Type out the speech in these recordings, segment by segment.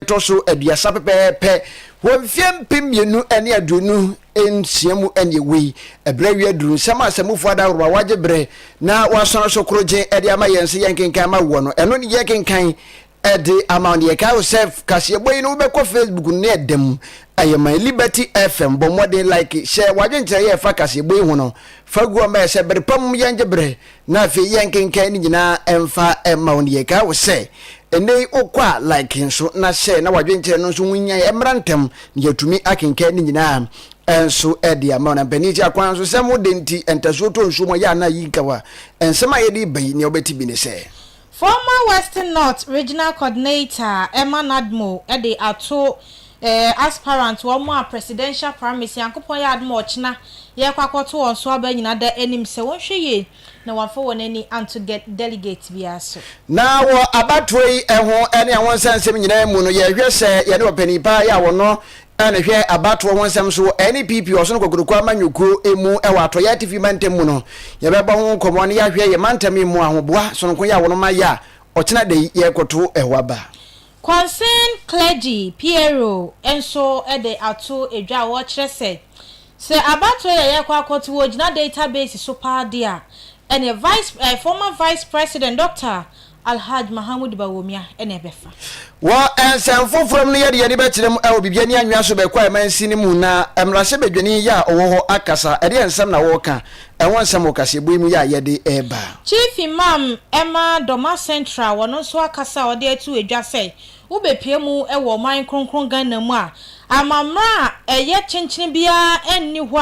ɛtɔ so aduasa pɛpɛɛpɛ wɔ mfeɛ mpem mmienu ne aduonu nsia mu ne ɛwɔ yi, ɛberɛ awie aduru, nsɛm a Asammufoɔ Adaworo a wɔagye berɛ na wɔasɔn so korogye de ama yɛn sɛ yɛnkenkan ma woɔ no, ɛno ne yɛkenkan de ama wo. Na yɛkae wo sɛ kaseɛbɔ yi no wobɛkɔ Facebook no na ɛda mu ayɛ man. Liberty FM, bɔ mmɔden like, hyɛ w'adwenkyerɛeɛ a ɛfa kaseɛbɔ yi ho no fa gu hɔ ma yɛ sɛ bere pa mu yɛngye berɛ Na afei yɛnkenkan ne nyinaa mfa mma wo. Na yɛkae wo sɛ, ɛnnɛ yi wokɔ a, like nso, na hyɛ na w'adwenkyerɛ no nso ho hia mmra ntɛm, na yɛatumi akenkan ne nyinaa nso de ama wo. Na mpanin ti akwan nso, sɛ mo de nti ntasuo tɔ nsuo mu a, ɛyɛ a na ayi nkawa. Nsɛm a yɛde reba yi, nea wobɛte bi ne sɛ. Former Western North Regional Coordinator Emma Nadmor de ato eh aspirant wɔn a presidential primaries Nyankopɔn yɛ adom a ɔkyena yɛkɔ akɔto wɔn so aba nyina da anim sɛ wɔnhwɛ yie na wɔamfa wɔn ani anto gɛ delegate biara so. Na wɔ abatoɔ yi ɛho ne ɛho nsɛnsɛm nyinaa mu no yɛhwɛ sɛ yɛne ɔpanin paa yi a wɔno a na ɛhwɛ abatoɔ ho nsɛm so wɔ NPP Ɔsono Kokroko amanyɔkuo mu wɔ Atɔeɛ Atifi mantam mu no, yɛbɛbɔ ho nkɔmmɔ na yɛahwɛ yɛn mantam yi mu ahoboa sononko yi a wɔma yɛ a ɔkyena da yi yɛrekɔto ɛhɔ aba. Concerned Clergy, PRO, nso de ato dwa a wɔkyerɛ sɛ, sɛ abatoɔ yi a yɛrekɔ akɔto wɔ gyina database so paa deɛ a, ɛneɛ Vice, Former Vice President Dɔkta Alhaj Mahamoud Bawumia na ɛbɛfa. Wɔ nsɛm foforɔ mu no, yɛde yɛn ani bɛkyerɛ mu wɔ biribi ani anwea so bɛkɔ amansin no mu na mmarahyɛbadwani yi a ɔwɔ hɔ akasa ɛdeɛ nsɛm na wɔreka ɛho nsɛm wɔ kaseɛbɔ yi mu yɛ a yɛde reba. Chief Imam ɛma Doma Central wɔno nso akasa a ɔde ato dwa sɛ Wobepue mu wɔ ɔman kronkron Ghana mu a amamerɛ a ɛyɛ kyenkyen biara nni hɔ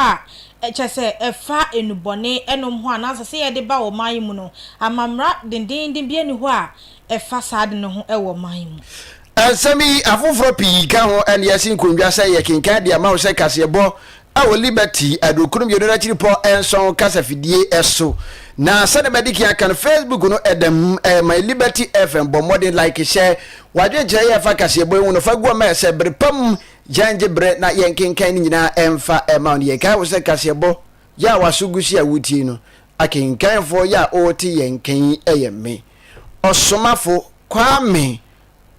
a kyerɛ sɛ ɛfa nnubɔne nom ho anaa sɛ sɛ yɛde ba ɔman yi mu no amamerɛ dendeenden biara nni hɔ a ɛfa saa ade no ho wɔ ɔman yi mu. Nsɛm yi, afoforɔ pii ka ho na yɛasi nkondwa sɛ yɛkenkan de ama wo sɛ kaseɛbɔ Wɔ Liberty aduokron mmienu no akyiripɔ nson kasafidie so. Na sɛdeɛ madi kan aka no, Facebook no ɛda mu, ɛyɛ my Liberty FM. Bɔ mmɔden like, hyɛ w'adwenkyerɛ yɛ fa kaseɛbɔ yi ho no fa gu ɔma ɛsɛ bere pa mu. Gyae ngye bere na yɛn kenkan ne nyinaa ɛmfa ɛma wo. Ne yɛn kae wo sɛ kaseɛbɔ yɛ a w'aso gu so yi a wotie no, akenkanfoɔ yɛ a wote yɛn nka yi ɛyɛ me, Ɔsomafo Kwame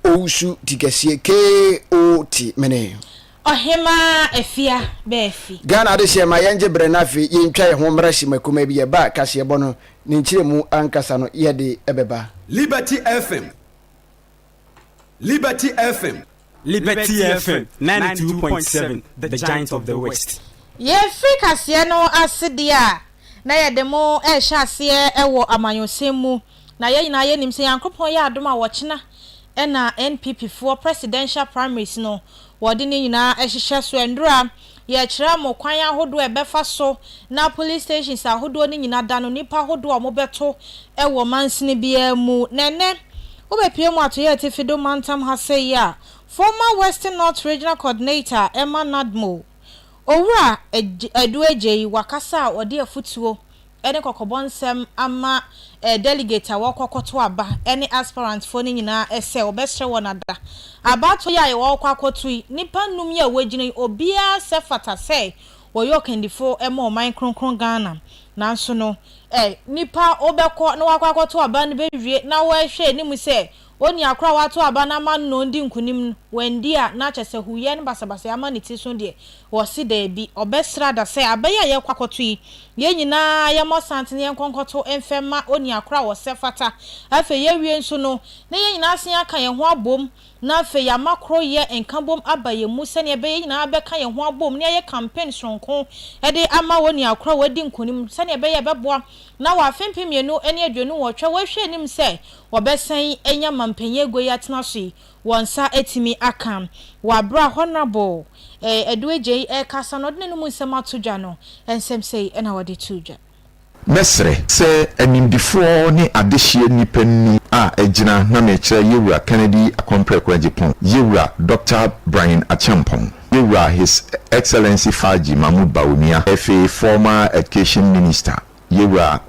owusu ti kɛseɛ KO ti mene. Ɔhemaa Afia bɛ afi. Ghana adehyeɛ ma yɛn gye berɛ na afei yɛn twa yɛn ho mmra hyema kumaa bi yɛ ba kaseɛbɔ no ne nkyerɛmu ankasa no yɛ de bɛ ba. Liberty FM Liberty FM. Liberty FM ninety two point seven the giant of the west. Yɛ firi kaseɛ no ase deɛ a na yɛ de mo rehyɛ aseɛ wɔ amanyɔsɛm mu. Na yɛn nyinaa yɛnim sɛ Nyankopɔn yɛ adom a wɔkyena na NPP foɔ presidential primaries no wɔde ne nyinaa hyehyɛ so ndora yɛkyerɛ mo kwan ahodoɔ a ɛbɛfa so na police stations ahodoɔ no nyina da no nipa ahodoɔ a wɔbɛto wɔ mansini biara mu na ɛnɛ wobɛpue mu atoyɛ atifi do mantam ha sei a former western north regional coordinator a ɛma NADMO owura Adu Agyei wakasa a ɔde afutuo ne kɔkɔbɔ nsɛm ama delegate a wɔrekɔ akɔto aba ne aspirant foɔ no nyinaa sɛ wɔbɛsrɛ wɔn ada. Abatoɔ yi a wɔrekɔ akɔto yi, nnipa nnum yi a wɔagyina yi, obiara sɛ fata sɛ wɔyɛ ɔkandifo ma ɔman kronkron Ghana. Nanso no, nnipa a wɔbɛkɔ na wɔakɔ akɔto aba no bɛwie na wɔahwɛ anim sɛ Onua koro a wato aba no ama no di nkonim no, wanndi a, na kyerɛ sɛ huuyɛ ne basabasayɛ ama ne ti so deɛ? Wɔse daabi. Ɔbɛsra da sɛ, Aba yi a yɛrekɔ akɔto yi, yɛn nyinaa yɛmmɔ santene yɛnkɔ nkɔto mfɛ mma onua koro a ɔsɛ fata. Afei yɛawie nso no, na yɛn nyinaa asan aka yɛn ho abom, na afei yɛama koroyɛ nkabom aba yɛn mu sɛdeɛ ɛbɛyɛ yɛn nyinaa bɛka yɛn ho abom na yɛayɛ campaign sononko de ama onua koro a wadi nkonim sɛdeɛ ɛbɛyɛ a ɛbɛboa na wɔ afe mpem mmienu ne aduonu nwɔtwe a wɔrehwɛ anim sɛ wɔbɛsan anya mampanyin agua yi atena so yi wɔn nsa atumi aka. Wɔ aberɛ a Honourable eh Adu Agyei rekasa no ɔde n'anum nsɛm ato dwa no, nsɛm sei na ɔde too dwa. Mɛsrɛ sɛ animdefoɔ ne adehyeɛ nnipa nnum a agyina na merekyerɛ Yɛwura Kennedy Akwampreko Agyepong, Yɛwura Dɔkta Brian Acheampong, Yɛwura His Excellency Faji Mahmood Bawumia, Afei Former Education Minister, Yewura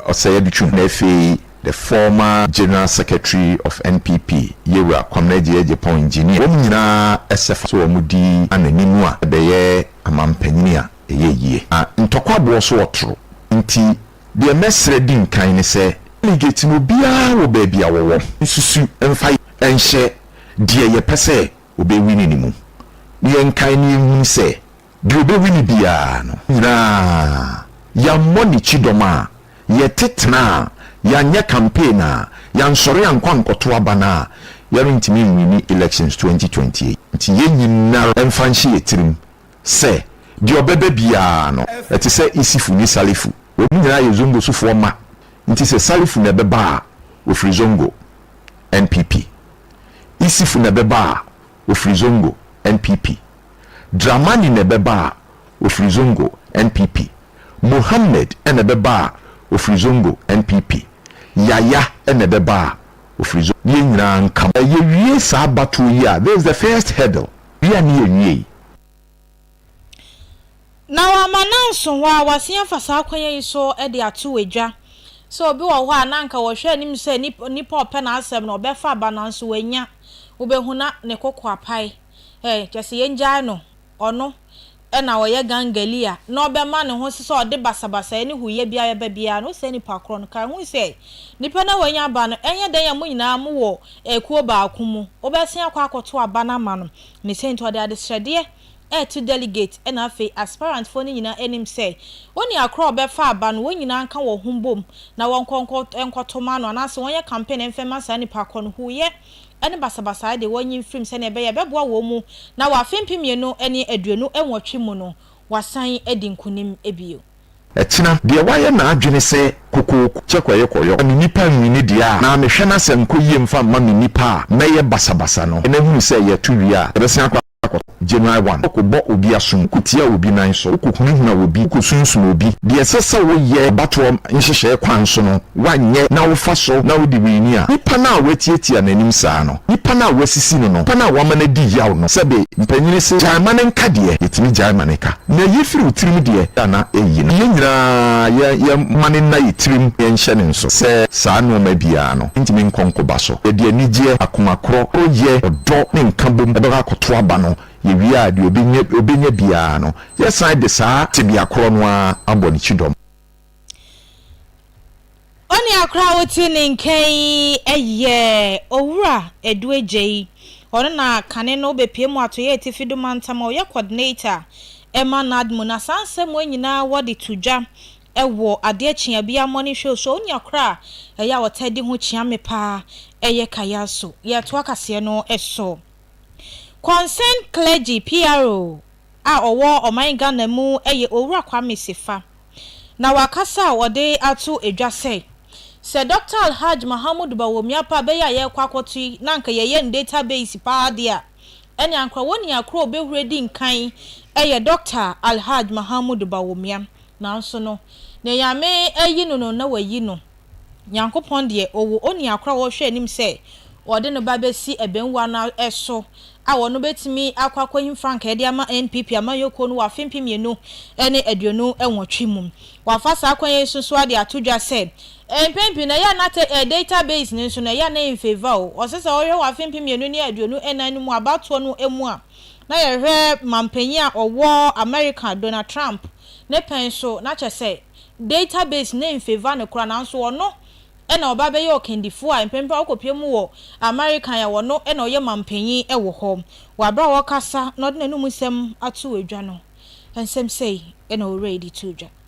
Ɔsɛyɛdu Twuhena Afei the former General Secretary of NPP Yewura Kwamina Agyei-Agyepong Engineer wɔn nyinaa ɛsɛ fa so wɔn di an'anim a ɛbɛyɛ amampanyini a ɛyɛ yie. Na ntɔkwa boɔ so ɔtoro nti deɛ mɛsrɛ di nkan ne sɛ delegate no obiara wɔ baabi a wɔwɔ nsusu mfa nhyɛ deɛ yɛpɛ sɛ ɔbɛwini no mu na yɛnkae na yɛnhunu sɛ, Deɛ ɔbɛwi no biara no nyinaa, yɛammɔ ne kyidɔm a, yɛte tena a, yɛanyɛ campaign a, yɛansɔre ankɔ ankɔto aba no a, yɛrentumi nwini elections 2028. Nti yɛn nyinara mfa nhyɛ yɛn tirim sɛ deɛ ɔbɛba biara no, ɛte sɛ Isifo ne Salifo, wɔn nyinaa yɛ Zongo sofoɔ mma, nti sɛ Salifo na ɛbɛba a, ɔfiri Zongo, NPP. Isifo na ɛbɛba a, ɔfiri Zongo, NPP. Dramani na ɛbɛba a ɔfiri Zongo, NPP. Mohammed na ɛbɛba a ɔfiri Zongo, NPP. Yaya na ɛbɛba a ɔfiri Zongo. Ne yɛn nyinaa nka mo. Yɛwie saa abatoɔ yi a, this is the first hurdle, wei a ne yɛawie yi. Na wama no anso hɔ a, wasen afa saa kwan yi so de ato adwa sɛ obi wɔ hɔ a na anka wɔhwɛ anim sɛ nipa a ɔpɛ n'asɛm no ɔbɛfa aba nanso wannya. Wobɛhu na ne koko apae. Ɛ, kyerɛ sɛ yɛngyae no, ɔno na ɔyɛ gangalia na ɔbɛma ne ho so sɛ ɔde basabasayɛ ne huuyɛ biara bɛba biara no, wo saa nipa korɔ no, kae hu sɛ, nipa no a wanya ba no, ɛnyɛ dɛn a mo nyinaa mo wɔ akuo baako mu, wobɛsen akɔ akɔto aba no ama no, ne sɛ nti ɔde adesrɛdeɛ reto delegate na afei aspirantfoɔ no nyinaa anim sɛ, wo nua korɔ a ɔbɛfa aba no, wɔn nyinaa nka wɔn ho mbom na wɔnkɔ nkɔ, nkɔto ma no, anaasɛ wɔnyɛ campaign mfa mma saa nipa korɔ no, huuyɛ ne basabasayɛ de wɔn nyin firim sɛnea ɛbɛyɛ a ɛbɛboa wɔn mu na wɔ afe mpem mmienu ne aduonu nwɔtwe mu no wɔasan adi nkonim bio. Akyina, deɛ wayɛ n'adwene sɛ kokooko kyɛ kɔyekɔyɔ na me nnipa nwi ne deɛ a na mehwɛ no asɛ nkɔ yie mfa mma me nnipa a mɛyɛ basabasa no, ɛnnɛ hunu sɛ yɛto wie a, ɛbɛsan akɔ. akɔtɔ. January one, Wokɔbɔ obi asom, wokotia obi nan so, wokohunahuna obi, wokosunsum obi. Deɛ ɛsɛ sɛ woyɛ abatoɔ nhyehyɛɛ kwan so no woanyɛ na wofa so na wodi w'ani a nipa no a woatiatia n'anim saa no, nipa no a woasisi no no, nipa no a woama no adi yaw no, sɛbe mpanyini se gyae ma no nka deɛ, yɛtumi gyae ma no ka. Na yi firi wo tirim deɛ a na ɛyi no. Yɛn nyinaa yɛn yɛn mma no nna yɛn tirim na yɛnhyɛ no nso sɛ saa nnoɔma biara no. ntumi nkɔ nkoba so. Yɛde anigyeɛ, akoma korɔ, koroyɛ, ɔdɔ ne nkabom bɛkɔ akɔto aba no, yɛwie a deɛ ɔbɛnya biara no yɛsan de saa tebea korɔ no ara abɔ ne kyidɔm. Onua korɔ a wote ne nkan yi yɛ Owura Adu Agyei. Ɔno na kane no wobɛpue mu Atɔeɛ Atifi do mantam a ɔyɛ Coordinator ma NADMU. Na saa nsɛm wei nyinaa wɔde to dwa Wɔ adeɛ kyeeɛ biara mmɔne hwɛ o So onya koro a ɛyɛ a ɔtaa di ho kyea me paa ɛyɛ kaya So yɛtoa kaseɛ no so Concerned Clergy, PRO, a ɔwɔ ɔman Ghana mu yɛ Owura Kwame Sefa Na wakasa a ɔde ato dwa sɛ Sɛ Dɔkta Alhaj Mahamudu Bawumia pa bɛyɛ a yɛrekɔ akɔto yi na anka yɛyɛ no data base paa deɛ a ɛne ankorɛ wɔn nyinaa koro a ɔbɛhuri adi nkan yɛ Dɔkta Alhaj Mahamudu Bawumia Nanso no, nea Nyame ayi no no na wayi no. Nyankopɔn deɛ, Ɔwɔ onua koro a Ɔrehwɛ anim sɛ Ɔde no ba bɛsi abɛmua no so a ɔno bɛtumi akɔ akɔhim frankaa de ama NPP amanyɔkuo no wɔ afe mpem mmienu ne aduonu nwɔtwe mu. Wafa saa kwan yi so nso ara de ato dwa sɛ, mpɛn pii no ɛyɛ a na te data base no nso no ɛyɛ a na ɛyɛ in favour o, ɔsɛ sɛ ɔhwɛ wɔ afe mpem mmienu ne aduonu nnan no mu abatoɔ no mu a, na yɛhwɛ mampanyin a ɔwɔ America Donald Trump ne pɛn so na kyɛ sɛ data base no nfavour no koraa nanso ɔno na ɔba bɛyɛ ɔkandifo a mpɛn pii a ɔkɔpue mu wɔ America a ɔno na ɔyɛ mampanyin wɔ hɔ. Wɔ aber a ɔrekasa na ɔde n'anomu nsɛm ato dwa no, nsɛm sɛɛ na Owura yi de too dwa.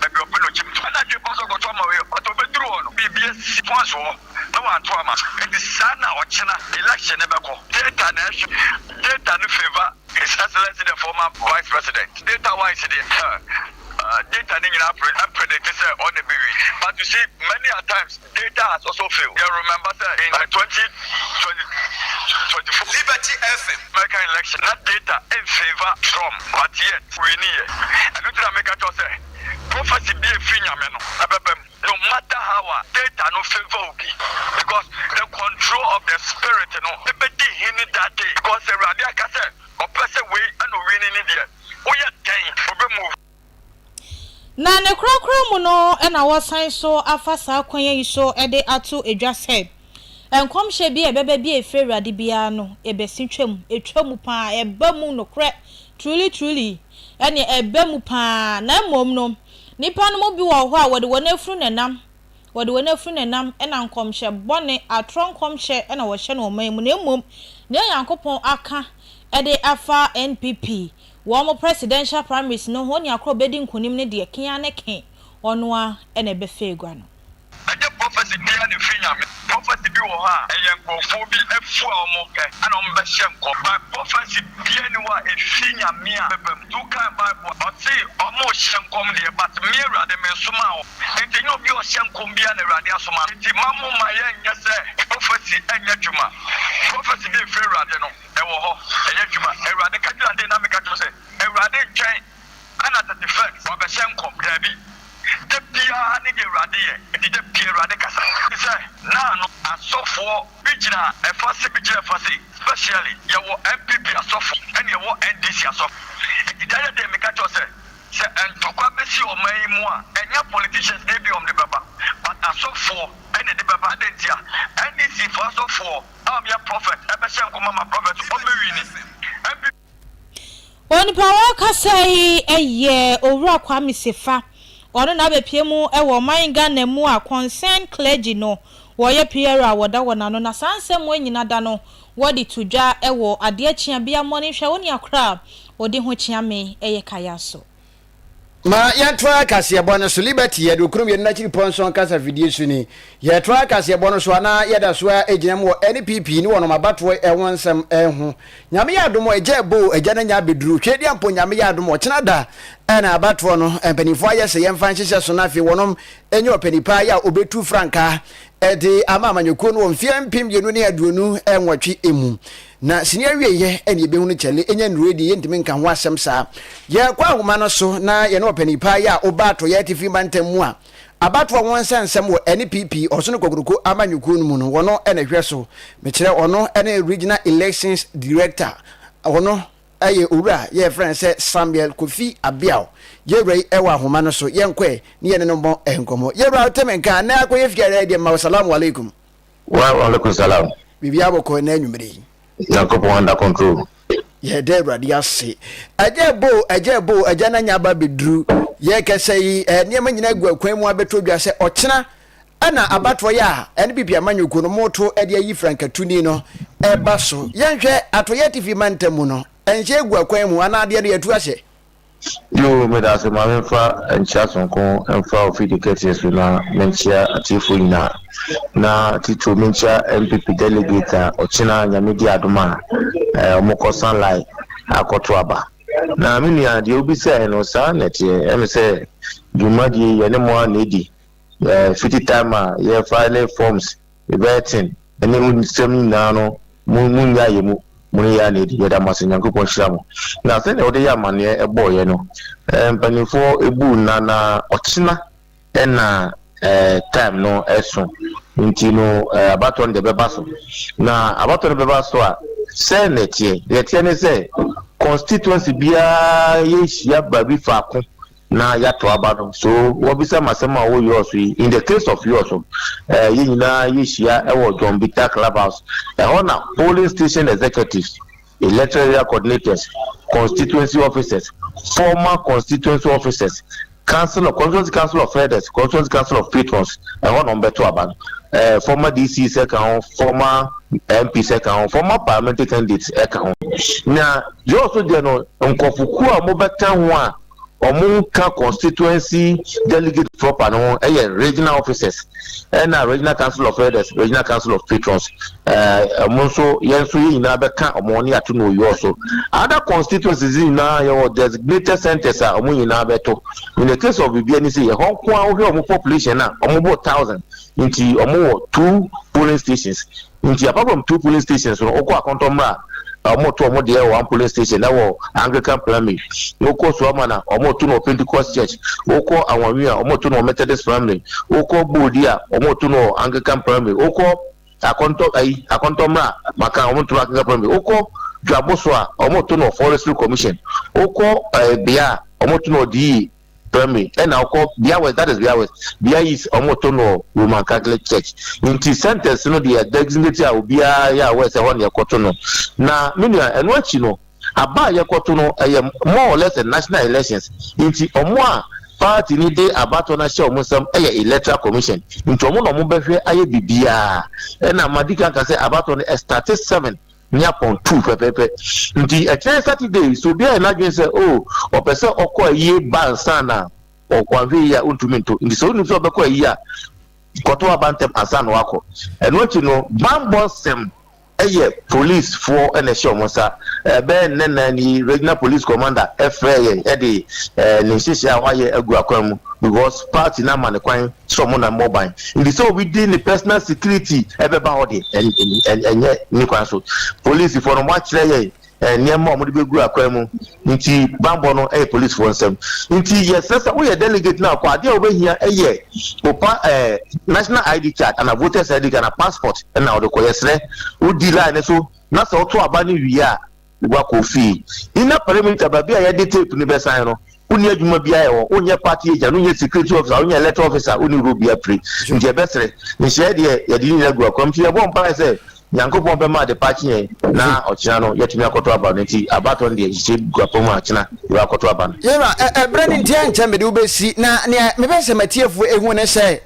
baabi a ɔpɛ na ɔkyem to. Ɛnna adwene baa so kɔto ama wei. But ɔbɛduru hɔ no, biribi asi pon so hɔ na wanto ama. Enti saa na ɔkyena election no bɛkɔ. Data na ɛhwɛ. Data no favour His Excellency the former Vice President. Data wise deɛ, huh, data no nyinaa pre, ɛmpredicte sɛ ɔno na ɛbɛwin. But you see, many a times, Data has also failed yɛ remember sɛ in twenty twenty twenty four Liberty FM. American election na data in favour Trump but yet winni yɛ ɛno nti na me ka kyerɛ wo sɛ prophecy bi a ɛfiri Nyame no ɛbɛba mu no matter how a data no favour obi because the control of the spirit no ɛbɛdi hene that day because sɛ Awurade aka sɛ ɔpɛ sɛ wei ɛna owinni ne deɛ woyɛ dɛn ɔbɛ move. Na ne korakora mu no na wɔasan so afa saa kwan yi so de ato dwa sɛ, nkɔmhyɛ bi a ɛbɛba bi a ɛfiri Awurade biara no, ɛbɛsi twam. Ɛtwa mu pa ara, ɛba mu nokorɛ, truly, truly, ɛnneɛ ɛba mu pa ara. Na mmom no, nnipa no mu bi wɔ hɔ a, wɔde wɔn afunu na ɛnam, wɔde wɔn afunu na ɛnam, ɛna nkɔmhyɛ bɔne, atorɔ nkɔmhyɛ na wɔhyɛ no wɔn man mu. Na mmom, deɛ Onyankopɔn aka de afa NPP Wɔ ɔmo presidential primaries no ho nea koro ɔbɛdi nkunim no deɛ ken ara ne ken, ɔno ara na ɛbɛfa agua no. Ɛnyɛ prophecy biara na ɛfiri Nyame. Prophecy bi wɔ hɔ a ɛyɛ nkorɔfoɔ bi afu a ɔmo pɛ ɛna ɔmo bɛ hyɛ nkɔm. But prophecy biara nni hɔ a ɛfiri Nyame a ɛbɛba mu. Tu kan bible a ɔse ɔmo hyɛ nkɔm deɛ but me Awurade me nsomaa wɔn. Enti ɛnyɛ obi a ɔhyɛ nkɔm biara na Awurade asoma no. Enti mma mo mma yɛnyɛ sɛ prophecy nyɛ adwuma. Prophecy deɛ ɛfiri Awurade no. Ɛwɔ hɔ, ɛyɛ adwuma. Awurade ka gyina den na meka kyerɛ wo sɛ, Awurade ntwɛn ɛna tete fɛ wabɛhyɛ nkɔm. Daabi, da biara ne deɛ Awurade yɛ, enti da biara Awurade kasa. Te sɛ na no asɔfoɔ bi gyina ɛfa sei, bi gyina ɛfa sei, specially yɛwɔ NPP asɔfo ɛna yɛwɔ NDC asɔfo. Enti da yɛ den meka kyerɛ wo sɛ, sɛ ntɔkwa bɛsi ɔman yi mu a, ɛnyɛ politicians na ebia wɔn de bɛba, but asɔfoɔ ɛna ɛde bɛba. Adɛn ntia? NDC foɔ asɔfoɔ. a ɔbea prɔfɛt bɛhyɛ nkɔm ama prɔfɛt Omewini mpp. Onipa a ɔrekasa yi yɛ Owura Kwame Sefa, ɔno na abɛpue mu wɔ ɔman Ghana mu a Concerned Clergy no wɔyɛ PR a wɔda wɔn ano na saa nsɛm wei nyina da no wɔde to dwa wɔ adeɛ kyea bia mmɔne hwɛ wo nua koraa ɔdi ho kyea me yɛ kaya so. Ma yɛntoa kaseɛbɔ no so. Liberty yɛ aduokron mmienu no akyiri pɔnsɔn kasa fidie so ni. Yɛtoa kaseɛbɔ no so a, na yɛda so ara gyina mu wɔ NPP ne wɔnom abatoɔ ho nsɛm ho. Nyame yɛ adom a, agya boo agya no anya abɛduru Tweediampo. Nyame yɛ adom a, ɔkyena da na abatoɔ no mpaninfoɔ ayɛ sɛ yɛmfa nhyehyɛ so na afei wɔnom anya ɔpani paa yi a ɔbɛtu frankaa de ama amanyɔkuo no wɔ mfeɛ mpem mmienu ne aduonu nwɔtwe mu. Na sini awieɛ ɛne yɛbɛhu no kyɛle ɛnya nnurue deɛ yɛntumi nka ho asɛm saa. Yɛkɔ ahoma no so na yɛne ɔpanin paa yi a ɔba Atɔeɛ Atifi Mantam mu a abatoɔ ho nsɛnsɛm wɔ NPP Ɔsono Kokroko Amanyɔkuo no mu no ɔno na ɛhwɛ so. Mekyerɛ ɔno ne Regional Elections Director ɔno yɛ Owura yɛ yɛfrɛ no sɛ Samuel Kofi Abiao. Yɛwura yi wɔ ahoma no so yɛnkɔɛ ne yɛne no mmɔ nkɔmmɔ. Yɛwura wote me nka na akɔyɛ fie a ɛyɛ deɛ mma wo Salaam Alaikum. Wa alaikum salam. Biribiara bɔ kɔ ɛnɛ anwummere yi. Nyankopɔn under control. Yɛda Awurade ase. Agya ɛbo, agya ɛbo, agya na nya aba bɛduru. Yɛkɛsɛ yi, eh, nneɛma nyinaa gu akwan mu abɛtɔ dwa sɛ ɔkyena ɛna abatoɔ yɛ a ɛne bibi amanyɔkuo no moto ɛde ayi frankatuni no ɛba so. Yɛnhwɛ atoyɛ atifi mantam mu no, ɛnhyɛ egu akwan mu anaa adeɛ no yɛtu ahyɛ. Yoo meda ase ma memfa nkyea sononko mfa ofidi kɛseɛ so na menkyea atiefoɔ nyinaa na titiriw menkyea NPP delegate a ɔkyena nyame di adom a ɛɛ wɔkɔ sanlai akɔto aba na me nua deɛ wobisae no saa na ɛteɛ ɛme sɛ dwumadie yɛne mo a na ɛdi ɛɛ fiti time a yɛfa ne forms Yɛbɛten ɛne mo nsɛm nyinaa no mo mo nya yɛ mu mo ne yɛ na ɛdi yɛda mo ase nyankopɔn hyira mo na sɛdeɛ wode yɛ amaneɛ ɛbɔɔ yɛ no ɛɛ mpanimfoɔ ɛbu nna na ɔkyena ɛna ɛɛ time no ɛso nti no ɛɛ abatɔ no deɛ bɛba so na abatɔ no bɛba so a sɛ na ɛteɛ deɛ ɛteɛ ne sɛ constituency biara yɛnhyia baabi faako Na yɛato aba no. So wɔbisa me asɛm a ɔwɔ Yoss yi? In the case of Yoss no, eh, yɛn nyinaa yɛhyia wɔ John Bitta Clubhouse. Ɛhɔ na polling station executives, electoral area coordinators, constituency officers, former constituency officers, council of constituency council of elders, constituency council of patrons, ɛhɔ na wɔbɛto aba no. Eh, former DC sɛ ka ho, former MP sɛ ka ho, former parliamentary candidates ɛka ho. Na Yoss deɛ no, nkurɔfokuo a wɔbɛka ho a wɔn nka constituency delegate proper no ho yɛ regional officers ɛna regional council of elders regional council of patrons ɛɛ wɔn nso yɛn nso yɛn nyinaa bɛka wɔn ne ato no yɔɔ so other constituencies nyinaa yɛwɔ designated centers a wɔn nyinaa bɛto in the case of bibi ani sɛ yɛ hɔ nko ara wɔhwɛ wɔn population a wɔn bɔ thousand nti wɔn wɔ two polling stations Nti apart from two polling stations no wokɔ akɔntɔ mmra a wɔn to wɔn deɛ wɔ one polling station ɛwɔ Anglican primary wokɔ Suamana wɔn to no wɔ Pentecost church wokɔ Anwanwi a wɔn to no wɔ Methodist primary wokɔ Boodi a wɔn to no wɔ Anglican primary wokɔ akɔntɔ ayi akɔntɔ mmra maka wɔn to no Anglican primary wokɔ Dwaboso a wɔn to no wɔ Forestry Commission wokɔ ɛɛ eh, Bea a wɔn to no wɔ DE Brɛ me ɛna ɔkɔ Bia West that is Bia West Bia East ɔmo to no Roman Catholic Church nti centers no deɛ designate a obiara yɛ aware sɛ ɛhɔ na yɛkɔ to no na me nua ɛno akyi no aba a yɛkɔ to no ɛyɛ more or less national elections nti ɔmo a party ni de abatɔ no ahyɛ ɔmo nsɛm ɛyɛ electoral commission nti ɔmo na ɔmo bɛhwɛ ayɛ bibiara ɛna madi kan ka sɛ abatɔ no ɛstate seven ne apɔn tuu pɛpɛɛpɛ nti ɛkyerɛ Saturday so obi ayɛ n'adwene sɛ o oh, ɔpɛ sɛ ɔkɔ ayie ba nsa na wanhwɛ yie a ɔntumi nto nti sɛ wonim sɛ ɔbɛkɔ ayie a kɔto aba ntɛm ansa na wakɔ ɛno akyi no bambɔ nsɛm ɛyɛ policefoɔ ɛna ɛhyɛ wɔn nsa ɛbɛyɛ nnɛ nan yi regional police commander ɛfrɛ yɛn ɛde ɛɛ ne nhyehyɛ a wayɛ agu akwan mu because party na ama ne kwan sɛ ɔmo na mmɔ ban nti sɛ obi di ne personal security ɛbɛba hɔ de ɛnyɛ ne kwan so polisi fo no mo akyerɛ yɛ nneɛma a ɔmo de bɛ gu akwan mu nti banbɔ no ɛyɛ polisi fo nsɛm nti yɛ sɛ sɛ woyɛ delegate na akɔ adeɛ a wobɛhia ɛyɛ opa ɛɛ national id card ana voters id card ana passport ɛna ɔde kɔ yɛ srɛ wodi line ne so na sɛ ɔto aba ne wie a Wakɔ fie. Inner perimeter, baabi a yɛde tape no bɛsan no, wonni adwuma biara yɛ hɔ. Wonyɛ party agent, wonyɛ security officer, wonyɛ electoral officer, wonni role biara pire. Nti yɛbɛsrɛ, nhyɛɛ deɛ yɛde ne nyinaa gu akwam. Nti yɛbɔ mpaeɛ sɛ Nyankopɔn bɛma adepa akye yɛn na ɔkyena no yɛatumi akɔto aba no. Nti abatoɔ no deɛ nhyehyɛe gu akwam a kyena yɛbɛ akɔto aba no. Yɛwura, ɛberɛ no nti ɛnkyɛ mede wo bɛsi, na nea mepɛ sɛ m'atiefoɔ ɛhu ne sɛ,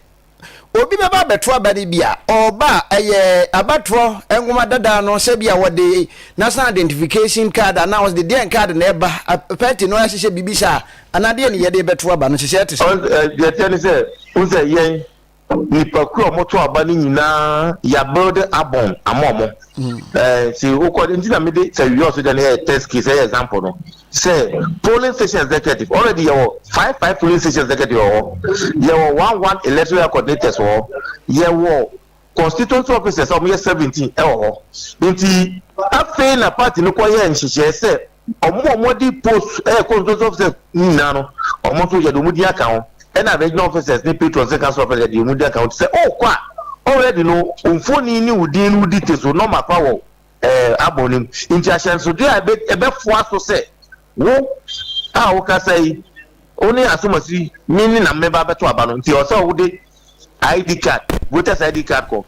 obi bɛba abɛto aba no bi a, ɔba a ɛyɛ abatoɔ nwoma dada no sɛ bi a wɔde national identification card anaa wɔde deɛn card na ɛba pɛti no ahyehyɛ biribi saa anaa deɛ ne yɛde bɛto aba no hyehyɛ te sɛ. Deɛ ɛteɛ ne sɛ wo sɛ yɛn nipakuo a wɔto aba no nyinaa yɛabuild abɔn ama wɔn. Hmm. Nti wokɔ nti na mede sɛ wiɛ ɔso deɛ no yɛ test case ɛyɛ example no. sɛ polling station executive already yɛwɔ five five polling station executive wɔ hɔ yɛwɔ one one electoral coordinators wɔ hɔ yɛwɔ constituency officers a wɔyɛ seventeen wɔ hɔ nti afei na party no kɔ yɛ nhyehyɛe sɛ wɔn a wɔde post ɛyɛ constituency officers nyinaa no wɔn nso yɛde wɔn din aka ho ɛna regional officers ne patrons ne council officers yɛde wɔn din aka ho te sɛ ɔkɔ a already no mfoni ne wo din no wo details wo nɔma kora wɔ ɛɛ abɔ no mu. Nti ahyɛnsode a ɛbɛ ɛbɛfoa so sɛ wo a wokasa yi wo ne asomasi me ne na mmeba bɛto aba no nti ɔsɛ wode ID card voters ID card kɔ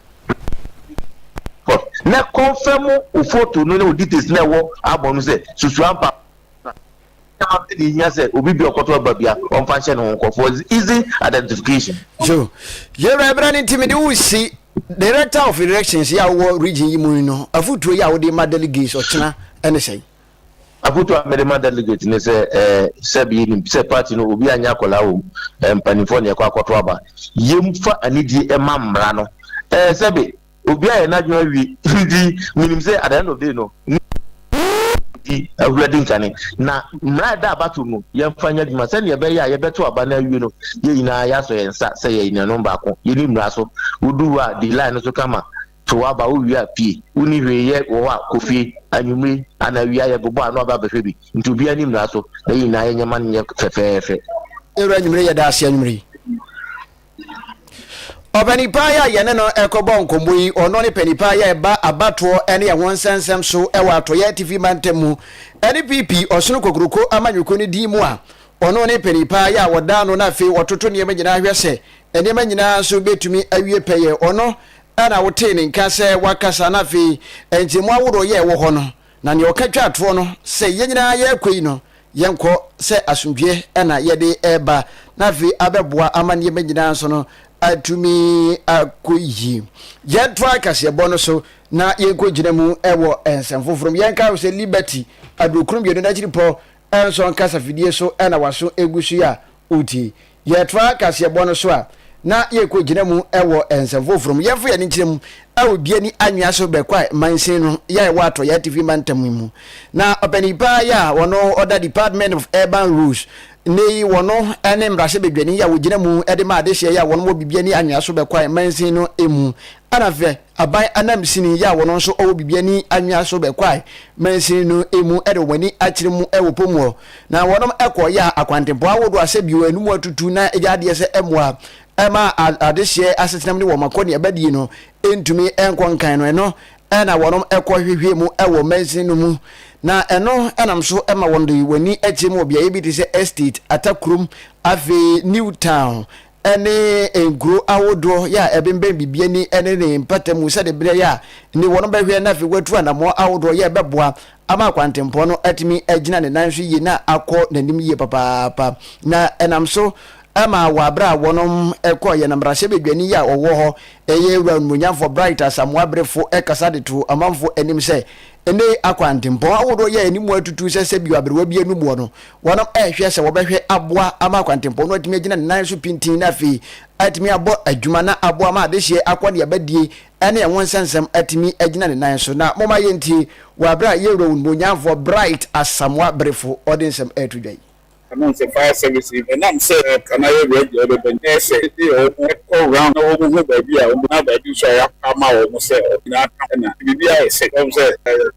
kɔ na kɔnfɛm wo foto no ne wo details na ɛwɔ abɔ no sɛ susua mpa Ɛnyɛ ma bɛn na ehia sɛ obi bi a ɔkɔtɔ aba bi a ɔmfa nhyɛ ne ho nkɔ for easy identification? So, Yɛwura bra no nti mede wo si Director of Elections yi a wowɔ region yi mu yi no afotuo yi a wode ma delegates ɔkyena ne sɛn? Afotuo a mede ma delegates ne sɛ eh, sɛbi yɛnim sɛ party no obi anyɛ akwadaa wɔ mu, eh, mpanimfoɔ na yɛkɔ akɔto aba. Yɛmfa anidie ma mmara no. Eh, sɛbi. Obi ayɛ n'adwene awie nti menim sɛ at the end of day no di awura di nkane na mmara a ɛda abato mu yɛmfa nyɛ adwuma sɛdeɛ ɛbɛyɛ a yɛbɛto aba no awie no yɛn nyinaa yɛasɔ yɛn nsa sɛ yɛyɛ nuanom baako yɛni mmara so wodu hɔ a di line no so kama to aba wowie a pie wonni hwee yɛ wɔ hɔ a kɔ fie anwummere anaa awia yɛbobɔ ano aba abɛhwɛ bi nti obiara ni mmara so na yɛn nyinaa yɛnyɛ ma no nyɛ fɛfɛɛfɛ. Ewura anwummere yɛda ase anwummere yi. Ɔpanin paa yi a yɛne no rekɔbɔ nkɔmmɔ yi, ɔno ne panin paa yi a ɛba abatoɔ ne ɛho nsɛnsɛm so wɔ Atɔeɛ Atifi mantam mu ne PP Ɔsono Kokuroko amanyɔkuo no din mu a ɔno ne panin paa yi a wɔda ano na afei wɔtoto nneɛma nyinaa hwɛ sɛ nneɛma nyinaa nso bɛtumi awie pɛyɛ. Ɔno na wotee ne nka sɛ wakasa na afei nkyɛmu ahodoɔ yɛ ɛwɔ hɔ no Na nea ɔka twaa toɔ no, sɛ yɛn nyinaa yɛrekɔ yi no, yɛnkɔ sɛ asomdwoeɛ na yɛde reba, na afei abɛboa ama nneɛma nyinaa nso no atumi akɔ yie. Yɛntoa kaseɛbɔ no so na yɛnkɔgyina mu wɔ nsɛm foforɔ mu. Yɛnkae sɛ Liberty, Aduokron Mmienu no akyiripɔ Ɛnsɔ nkasafidie so na w'aso gu so yi a wotie. Yɛtoa kaseɛbɔ no so a, na yɛkɔ gyina mu wɔ nsɛm foforɔ mu. Yɛmfa yɛn ani nkyerɛ mu wɔ Bia ne Anwea so Bekwai mansin no yi a ɛwɔ Atɔeɛ Atifi Mantam yi mu. Na ɔpanin paa yi a ɔno ɔda Department of Urban Roads, nnɛ yi wɔno ne mmarahyɛbadwani yi a wɔgyina mu de ma adehyeɛ yi a wɔn wɔ Bibia ne Anwea so Bekwai mansin no mu. Ana hwɛ! Aban anamsini yi a wɔn nso ɔwɔ biribi ani anwea so bɛkɔae mansini no mu de wɔn ani akyerɛ mu wɔ pɔ mu hɔ, na wɔnom kɔɔ yɛɛ akwantempɔn ahodoɔ asɛ bio ɛno mu atutu na agya adeɛ sɛ ɛmmoa mma adehyeɛ asetenam ne wɔn akɔneabadie no ntumi nkɔ nkan no ɛno na wɔnom kɔ hwehwɛɛ mu wɔ mansini no mu na ɛno nam so ma wɔn de wɔn ani akyerɛ mu wɔ beaeɛ bi te sɛ Estate, Atakurom, afei New Town ne nkuro ahodoɔ yɛ a ɛbembɛn biribi ani ne ne mpata mu sɛdeɛ berɛ yɛ a ne wɔn bɛhwɛ na afei watu anammɔn ahodoɔ yɛ ɛbɛboa ama akwantempɔn no atumi agyina ne nan so yie na akɔ n'anim yie papaapa na ɛnam so ɛma wɔ aberɛ a wɔn kɔ yɛn mmarahyɛ badwani yɛ a ɔwɔ hɔ ɛyɛ wura onumonyamfoɔ Bright Asamoah Berefo ɛkasa de to amanfoɔ anim sɛ ɛnɛ akwantempɔn ahodoɔ yɛ anim atutu sɛ sɛ bio aberewa bi anuboɔ no Wɔrehwɛ sɛ wɔbɛhwɛ aboa ama akwantempɔn no atumi agyina ne nan so pintinn na afei atumi abɔ adwuma na aboa ma adehyeɛ akɔneabadie ne ɛho nsɛnsɛm atumi agyina ne nan so. Na momma yɛntie wɔ berɛ a yɛn Wura Onimuonyamfoɔ Bright Asamoah Berefo ɔde nsɛm reto dwa yi. Ɛno nti fire service yi ɛnam sɛ aka na yɛ ready ɔde bɛ nyɛ sɛ ɛde yɛ wɔn ɛkɔ round na wɔn hu baabi a wɔn na baabi nso a yɛ apa ama wɔn sɛ wɔn nyinaa ka ho na biribi ayɛ sɛ wɔn sɛ.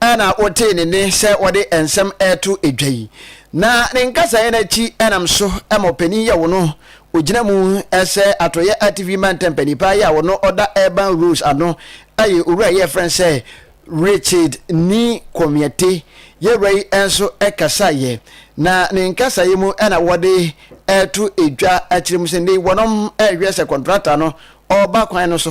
a na wotee ne nne sɛ ɔde nsɛm reto dwa yi, na ne nkasaeɛ no akyi nam so ma ɔpanin yɛ wo no, ɔgyina mu sɛ Atɔeɛ Atifi Mantam Panipaa yi a ɔno ɔda Urban Rose ano yɛ owura yi a yɛfrɛ no sɛ Richard Ni Komiete. Yɛwura yi nso kasaeɛ, na ne nkasaeɛ mu na wɔde reto dwa akyerɛ mu sɛ nnɛ yi wɔnom rehwɛ sɛ kɔntrakta no ɔreba kwan no so,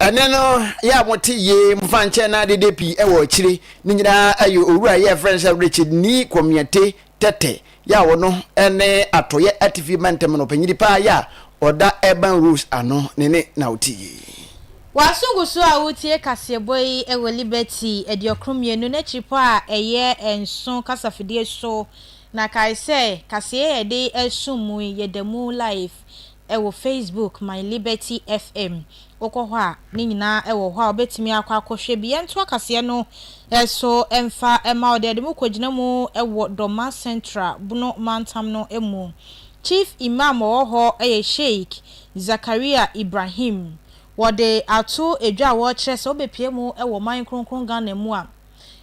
Ɛnɛ no yɛ a mote yie mofa nkyɛn na adede pii wɔ akyire ne nyinaa yɛ owura yɛ frɛ no sɛ Richard Nii Komiɛte Tete Yaw no ne Atɔeɛ Atifi Mantam no ɔpanyin paa yi a ɔda Urban Rose ano ne ne na wote yi. W'asogu so a woretie kaseɛbɔ yi wɔ Liberty aduokron mmienu n'akyiripɔ a ɛyɛ nson kasafidie so, na kae sɛ kaseɛ a yɛde resom mu yi yɛda mu live Ɛwɔ Facebook my liberty FM wokɔ hɔ a ne nyinaa ɛwɔ hɔ a wobɛtumi akɔ akɔhwɛ bi. Yɛntoa kaseɛ no so mfa ma wo. Deɛ yɛde mo kɔgyina mu wɔ Dɔma Central, Bono mantam no mu. Chief Imam ɔwɔ hɔ yɛ Sheik Zakaria Ibrahim. Wɔde ato dwa a wɔkyerɛ sɛ wobɛpue mu wɔ ɔman kronkron Ghana mu a.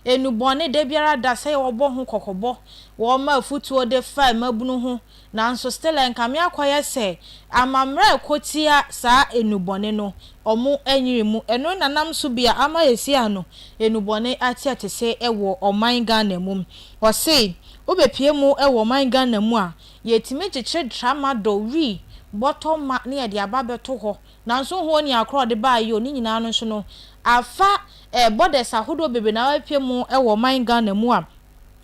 enubɔne da biara da sɛ wɔbɔ ho kɔkɔbɔ, wɔma afutuo de fa mmabunu ho, nanso still ɛnkame akɔyɛ sɛ amamerɛ ɛko tia saa enubɔne no, ɔmo anyiri mu. Ɛno na nam so bia ama sɛsi a no enubɔne ateɛtese wɔ ɔman Ghana mu. Ɔse wo bɛ pie mu wɔ ɔman Ghana mu a, yɛtumi kyekyere tramadol, wii, bɔtɔ ma ne yɛde aba bɛto hɔ Nanso ho ɔni akoro a ɔde baa yio ne nyinaa no nso no afa eh borders ahodoɔ bebree na apue mu wɔ ɔman Ghana mu a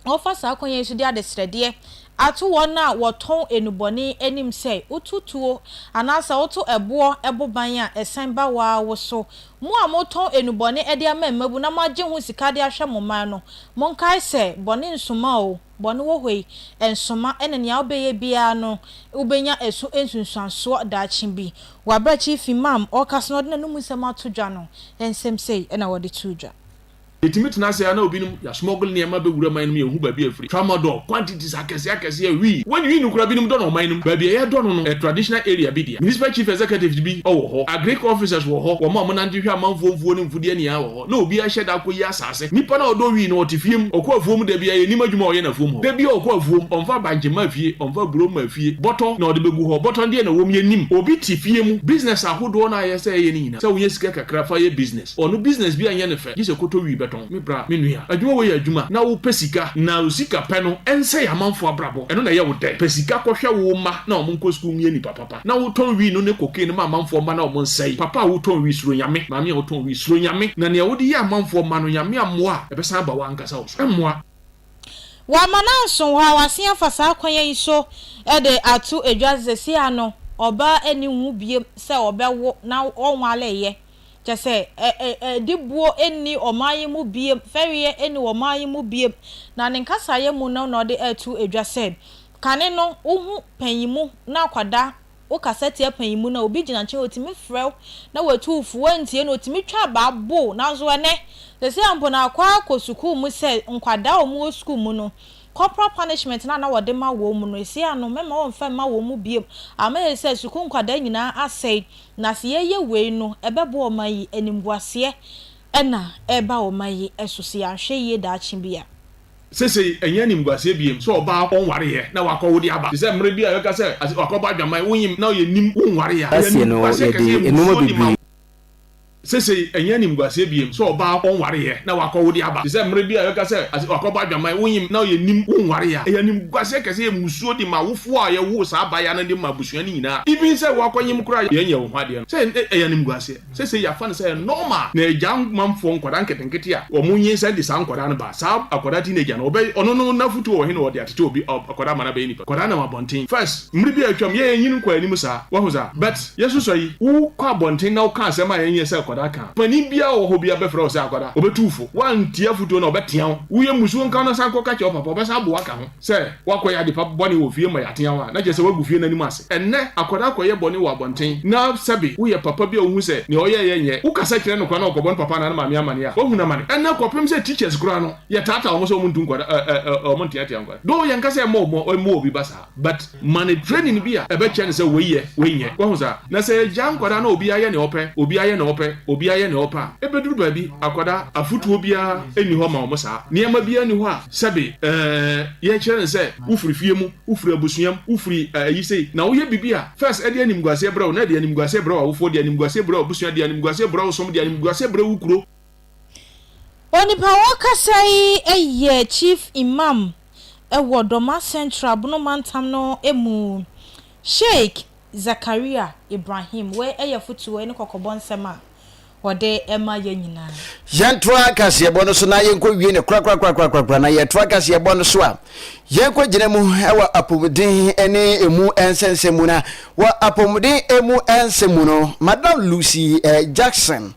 wɔfa saa kwan yi so de adesrɛdeɛ ato wɔn a wɔtɔn enubɔne anim sɛ wotu tuo anaasɛ woto ɛboɔ ɛbo ban a ɛsan ba waa wo so. Mo a motɔn enubɔne de ama mmabun na moagye ho sika de ahwɛ mo mmaa no monkae sɛ bɔne nsuma oo. Bɔne wɔ hɔ yi, ɛnsoma, ɛna nea wobɛyɛ biara no, wobɛnya ɛso nsunsuansoɔ daakye bi. Wɔ aberɛkyee fi Mam ɔrekasa na ɔde n'anom nsɛm ato dwa no, nsɛm sei na wɔde too dwa. Yɛtumi tena ase ara na obinom ya smuggle nneɛma bɛ wura man no mu yɛnhu baabi a ɛfiri tramadol quantities akɛseɛ akɛseɛ a wii wɔn wii no koraa binom dɔ no ɔman no mu baabi a yɛdɔ no no traditional area bi deɛ municipal chief executives bi wɔ hɔ agric officers wɔ hɔ wɔn a wɔnante hwɛ amanfoɔ mfuo ne mfudeɛ nyinaa wɔ hɔ. na obi ahyɛ da akɔyi asase. Nipa no a ɔdɔ wii no, ɔte fie mu. Ɔkɔ afuom da biara, yɛnnim adwuma a ɔyɛ no afuom hɔ. Da biara ɔkɔ afuom, ɔmfa bankye mma fie, ɔmfa aburo mma fie. Bɔtɔ na ɔde bɛgu hɔ. Bɔtɔ no deɛ na ɛwɔ mu yɛnnim. Obi te fie mu. Business ahodoɔ no a ɛyɛ sɛ ɛyɛ no nyinaa, sɛ wonya sika kakra fa yɛ business. Ɔno business biara nyɛ no fɛ, gye sɛ kɔtɔ wii bɛtɔn. Me bra, me nua, adwuma wei yɛ adwuma na wopɛ sika na osikapɛ no ɛnsɛe amanfoɔ abrabɔ. Ɛno na ɛyɛ wo dɛ. Pɛ sika kɔhwɛ wo mma na wɔn nkɔ sukuu nyɛ nipa papa. na wo tɔn wii no ne cocaine ma amanfoɔ mma na ɔmo nsɛe, papa a wo tɔn wii suro Nyame, maame a wo tɔn wii suro Nyame, na nea wode yɛ amanfoɔ mma no Nyame ammoa a ɛbɛsan aba w'ankasa wo so, ɛmmoa. Wama no anso hɔ a wasen afa saa kwan yi so de ato edwa sɛ seesei ano ɔbaa ɛnni ho biom sɛ ɔbɛwo na ɔnwaleeɛ, kyerɛ sɛ adibuo ɛnni ɔman yi mu biom, fɛreɛ ɛnni ɔman yi mu biom, na ne nkasaeɛ mu no na ɔde ɛreto edwa sɛ Kane no wo hu panyinmu na akwada wo kasa tia panyinmu no a obi gyina nkyɛn otumi frɛ wo na watu wo fo wantie no otumi twa abaa bo wo nanso ɛnɛ sɛsɛ a mpo na akɔ ara kɔ sukuu mu sɛ nkwadaa a wɔn wɔ sukuu mu no corporal punishment no a na wɔde ma wɔn mu no ɛsei ano mɛma wɔn mfa mma wɔn mu biom ama yɛ sɛ sukuu nkwadaa nyinaa asɛe na sɛ yɛ yɛ wei no ɛbɛboa ɔman yi animguaseɛ ɛna ɛreba ɔman yi ɛso sɛ yɛ anhwɛ yie daakye bi a. Sesei ɛnyɛ animguaseɛ biem sɛ ɔbaa a ɔnwareeɛ na wakɔ wode aba te sɛ mmerɛ bi a yɛbɛka sɛ ase wakɔbɔ adwaman, wonyim na ɔyɛ nim wonwaree a. Ɛyɛ Aseɛ no, animguaseɛ yɛde kɛseɛ mmusuo nnoɔma de ma bebree. Sesei ɛnyɛ animguaseɛ biem sɛ ɔbaa a ɔnwareeɛ na wakɔ wode aba te sɛ mmerɛ bi a yɛbɛka sɛ ase wakɔbɔ adwaman, wonyim na ɔyɛ nim wonwaree a. Ɛyɛ animguaseɛ kɛseɛ mmusuo de ma awofoɔ a yɛwoo saa abaayewa no de ma abusua no nyinaa, even sɛ woakɔnyem koraa a yɛnyɛ wo ho adeɛ no. Sɛ ɛyɛ animguaseɛ. Sesei yɛafa no sɛ ɛyɛ normal na Agyamanfoɔ nkwadaa nketenkete a wɔn nyinsɛn de saa nkwadaa no ba. Saa akwadaa teenager no ɔbɛyɛ ɔno no n'afotuo wɔ he na wɔde atete obi akwadaa ama no abɛyɛ nipa? Nkwadaa nam abɔnten first mmere bi a atwam yɛɛ nyin kɔɔ anim saa wahu saa but yɛsusua yi wo kɔ abɔnten na wo ka asɛm a ɛnyɛ sɛ akwadaa ka a panin biara a ɔwɔ hɔ biara bɛfrɛ wo sɛ akwadaa ɔbɛtu wo fo woantie afotuo no a ɔbɛtea wo woyɛ mmusuo nka wo na san kɔ ka kyerɛ wo papa ɔbɛsan aboa ka ho Sɛ woakɔyɛ adepa bɔne wɔ fie ma yɛateaw a, na kyerɛ sɛ woagu fie no anim ase. Ɛnnɛ, akwadaa kɔyɛ bɔne wɔ abɔnten, na sɛbe woyɛ papa bi a wuhu sɛ nea ɔyɛe yɛ nyɛ. Wokasa kyerɛ no kwa na ɔkɔbɔ ne papa anaa ne maame amanneɛ a, wahunu amane. Ɛnnɛ, kɔpem sɛ teachers koraa no, yɛtaataa wɔn sɛ wɔntu nkwadaa, wɔnteatea nkwadaa. Though yɛnka sɛ ɛmmɔ obi ba saa, but Ma no training bi a ɛbɛkyerɛ no sɛ wei yɛ, wei nyɛ. Wahu saa? Na sɛ yɛgyaa nkwadaa na obiara yɛ nea ɔpɛ, obiara yɛ nea ɔpɛ, obiara yɛ nea ɔpɛ a, ɛbɛduru baabi, akwadaa, afotuo biara nni hɔ ma wɔn saa. Nneɛma biara nni hɔ a, sɛbe, ɛɛ, yɛkyerɛ no sɛ wofiri fie mu, wofiri abusua mu, wofiri ayi sei, na woyɛ biribi a, first ɛde animguaseɛ brɛ wo, na ɛde animguaseɛ brɛ w'awofoɔ, ɛde animguaseɛ brɛ w'abusua, ɛde animguaseɛ brɛ wo som, ɛde animguaseɛ brɛ wo kuro. Onipa a ɔrekasa yi yɛ Chief Imam wɔ Dormaa Central Bono Mantam no mu, Sheik Zakaria Ibrahim. Wei yɛ afotuo, wei ne kɔkɔbɔ nsɛm a ɔde rema yɛn nyinaa. Yɛntoa kaseɛbɔ no so na yɛnkɔwie no korakorakorakorakora, na yɛtoa kaseɛbɔ no so a, yɛnkɔgyina mu wɔ apɔmuden ne emu nsɛnsɛm mu, na wɔ apɔmuden emu nsɛm mu no, Madam Lucy Jackson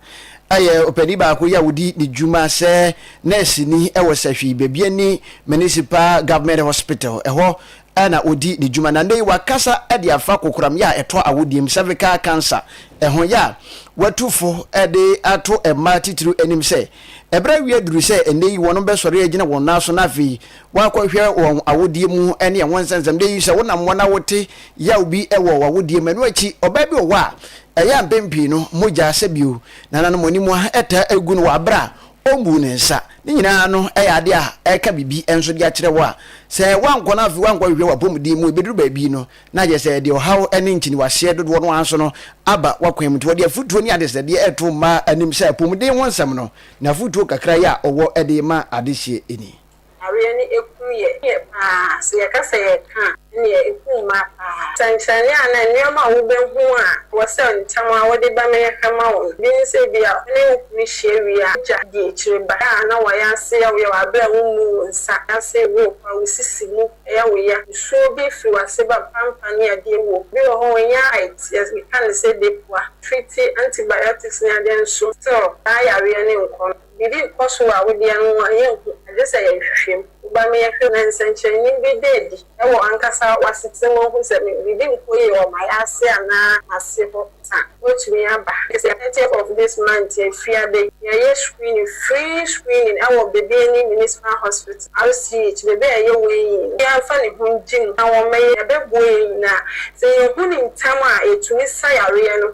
Ɔyɛ ɔpanin baako yi a ɔdi ne dwuma sɛ nɛɛseni wɔ Sahwi, baabi a ne Municipal Government Hospital, ɛhɔ na ɔdi ne dwuma, na nnɛ yi wakasa de afa kokoramyɛ a ɛtɔ awodie mu, cervical cancer, ho yɛ a watu fo de ato mmaa titiriw anim sɛ ɛberɛ awie aduru sɛ nnɛ yi wɔn bɛsɔre agyina wɔn nan so na afei Woakɔhwɛ wɔn awodeɛ mu ne ɛho nsɛnsɛmdeɛ yi? Sɛ wonam hɔ na wote yaw bi wɔ w'awodeɛ mu, ɛno akyi ɔbaa bi wɔ hɔ a, ɛyɛ a mpɛn pii no mogya sɛ bio. Nananom anim a ɛtaa gu no wɔ aberɛ a ɔmmuu ne nsa. Ne nyinaa no yɛ adeɛ a ɛka biribi nso de akyerɛ wo a sɛ woankɔ no afei woankɔhwehwɛ w'apɔmuden mu, ɛbɛduru baabi no na ayɛ sɛ ɛde ɔhaw ne nkyiniwaseɛ dodoɔ no ara so no aba w'akwan mu. Nti ɔde afotuo ne adesrɛdeɛ reto mmaa anim sɛ apɔmuden ho nsɛm no, n'afotuo kakra yi a ɔwɔ de ma adehyeɛ ni. Awareɛ no ɛkum yɛ yɛ paa sɛ yɛka sɛ yɛreka a ɛneɛ ɛkum mmaa paa. Sɛnkyerɛnne anaa nneɛma a wobɛhu a ɛwɔ sɛ ntɛm ara wode ba ma yɛhwɛ ma wo no, bi ne sɛ ebia wo ne wo kunu hyia wie a wogya di akyire ba a na wayɛ ase yɛ wo yaw berɛ a wommu wo nsa ase wo wo kɔ a wo sisi mu yɛ wo ya, nsuo bi firi w'ase ba pampa ne adeɛ wɔ mu. Bi wɔ hɔ ɔnyɛ height yɛ yɛka no sɛ depoa, treat antibiotics ne adeɛ nso still saa yareɛ no nkɔ no. Biribi rekɔ so wɔ awodeɛ no ho a yɛnhu, agye sɛ yɛhwehwɛ mu. Woba me yɛhwɛ na nsɛnkyerɛnne bi da adi wɔ w'ankasa w'asetena mu ahu sɛ biribi nkɔ yie wɔ m'ayase anaa m'ase hɔ a, wobɛtumi aba. Ɛfiri sɛ thirtieth of this month afiada yi, yɛreyɛ screening, free screening wɔ baabi a ɛne Municipal Hospital, RCH, baabi a yɛyɛ weighing no, obiara mfa ne ho ngye mu na wɔmmɛyɛ, yɛbɛboa yɛn nyinaa. Sɛ yɛhu no ntɛm a, yɛtumi sa yareɛ no.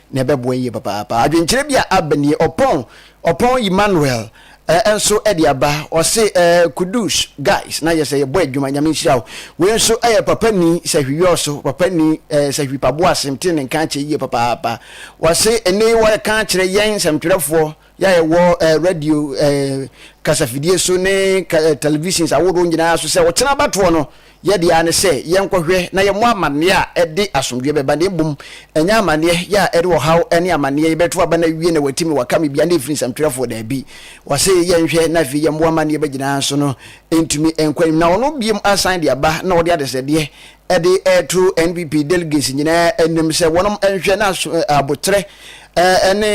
na ɛbɛboa yie papaapa. Adwenkyerɛ bi a aba nie, Ɔpɔn Ɔpɔn Emmanuel nso de aba, ɔse Kudus guys na yɛsɛ yɛbɔ adwuma, Nyame nhyira wo. Wei nso yɛ Papa Ni Sahwi-Yɔɔso, Papa Ni Sahwi Paboa Asem tee ne nka akyɛ yie papaapa. Ɔse, Nnɛ yi wɔreka akyerɛ yɛn nsɛmtwerɛfoɔ, Yɛn a yɛwɔ radio, kasafidie so ne televisions ahoroɔ nyinaa so sɛ ɔkyena abatoɔ no, yɛn deɛ ara ne sɛ yɛnkɔhwɛ na yɛmmɔ amanneɛ a ɛde asomdwoeɛ bɛba na mmom ɛnyɛ amanneɛ yɛ a ɛde ɔhaw ne amanneɛ yɛbɛto aba na awie na wati me waka me bia na ɛfiri nsɛmtwerɛfoɔ daabi. Wɔse yɛnhwɛ na afei yɛmmoa amanneɛba nyinaa nso no ntumi nkɔ anim na ɔno bio asan de aba na ɔde adesrɛdeɛ de reto NPP delegates nyinaa anim sɛ wɔnom nhwɛ na aboterɛ ne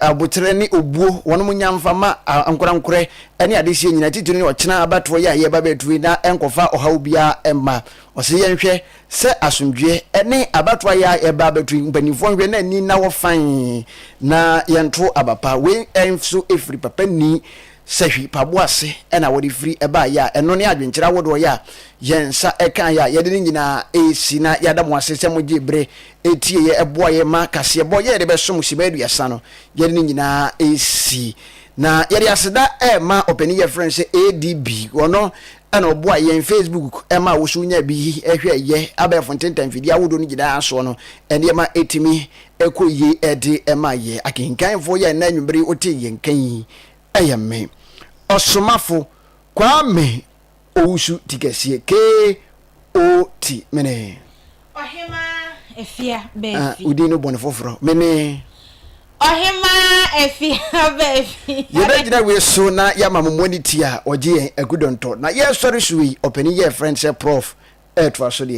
aboterɛ ne obuo wɔnom nya mfa ma ankorankorɛ ne adehyɛ nyinaa titiri ne ɔkyena abatoɔ yɛ a yɛba bɛtue na ɛnkɔfa ɔhaw biara mma ɔsɛ yɛnhwɛ sɛ asomdwoeɛ ne abatoɔ ayɛ a yɛba bɛtue mpanimfoɔ nhwɛ na ani na wɔ fan na yɛnto aba pa wei nso ɛfiri papa ni Sahwi mpaboa ase na wɔde firi baeɛ a, ɛno ne adwenkyerɛ ahodoɔ yi a yɛn nsa kaeɛ a yɛde ne nyinaa resi na yɛada mo ase sɛ mogyee berɛ tieeɛ boaa yɛn ma kaseɛbɔ yɛde bɛsom Simma Aduasa no, yɛde ne nyinaa resi. Na yɛde aseda rema ɔpanin yi a yɛfrɛ no sɛ ADB, ɔno na ɔboaeɛ yɛn Facebook ma wo so nyaa bi hwɛeɛ, abɛɛfo ntenta mfidie ahodoɔ no nyinaa soɔ no nneɛma tumi kɔ yie de ma yɛn. Akenkanfoɔ yi a ɛnnɛ anwummere yi wotee yɛn nka yi, Ɛyɛ me, Ɔsomafo Kwame Owusu Tikɛseɛ KOT, mene. Ɔhemaa Afia Baafi. Wo din no bɔ no foforɔ, mene. Ɔhemaa Afia Baafi. Yɛbɛgyina wei so na yɛama mo moani tia ɔgye yɛn Agu Dɔntɔ na yɛresɔre so yi, ɔpanin yi a yɛfrɛ no sɛ Prɔf. Ɛretoa so deɛ.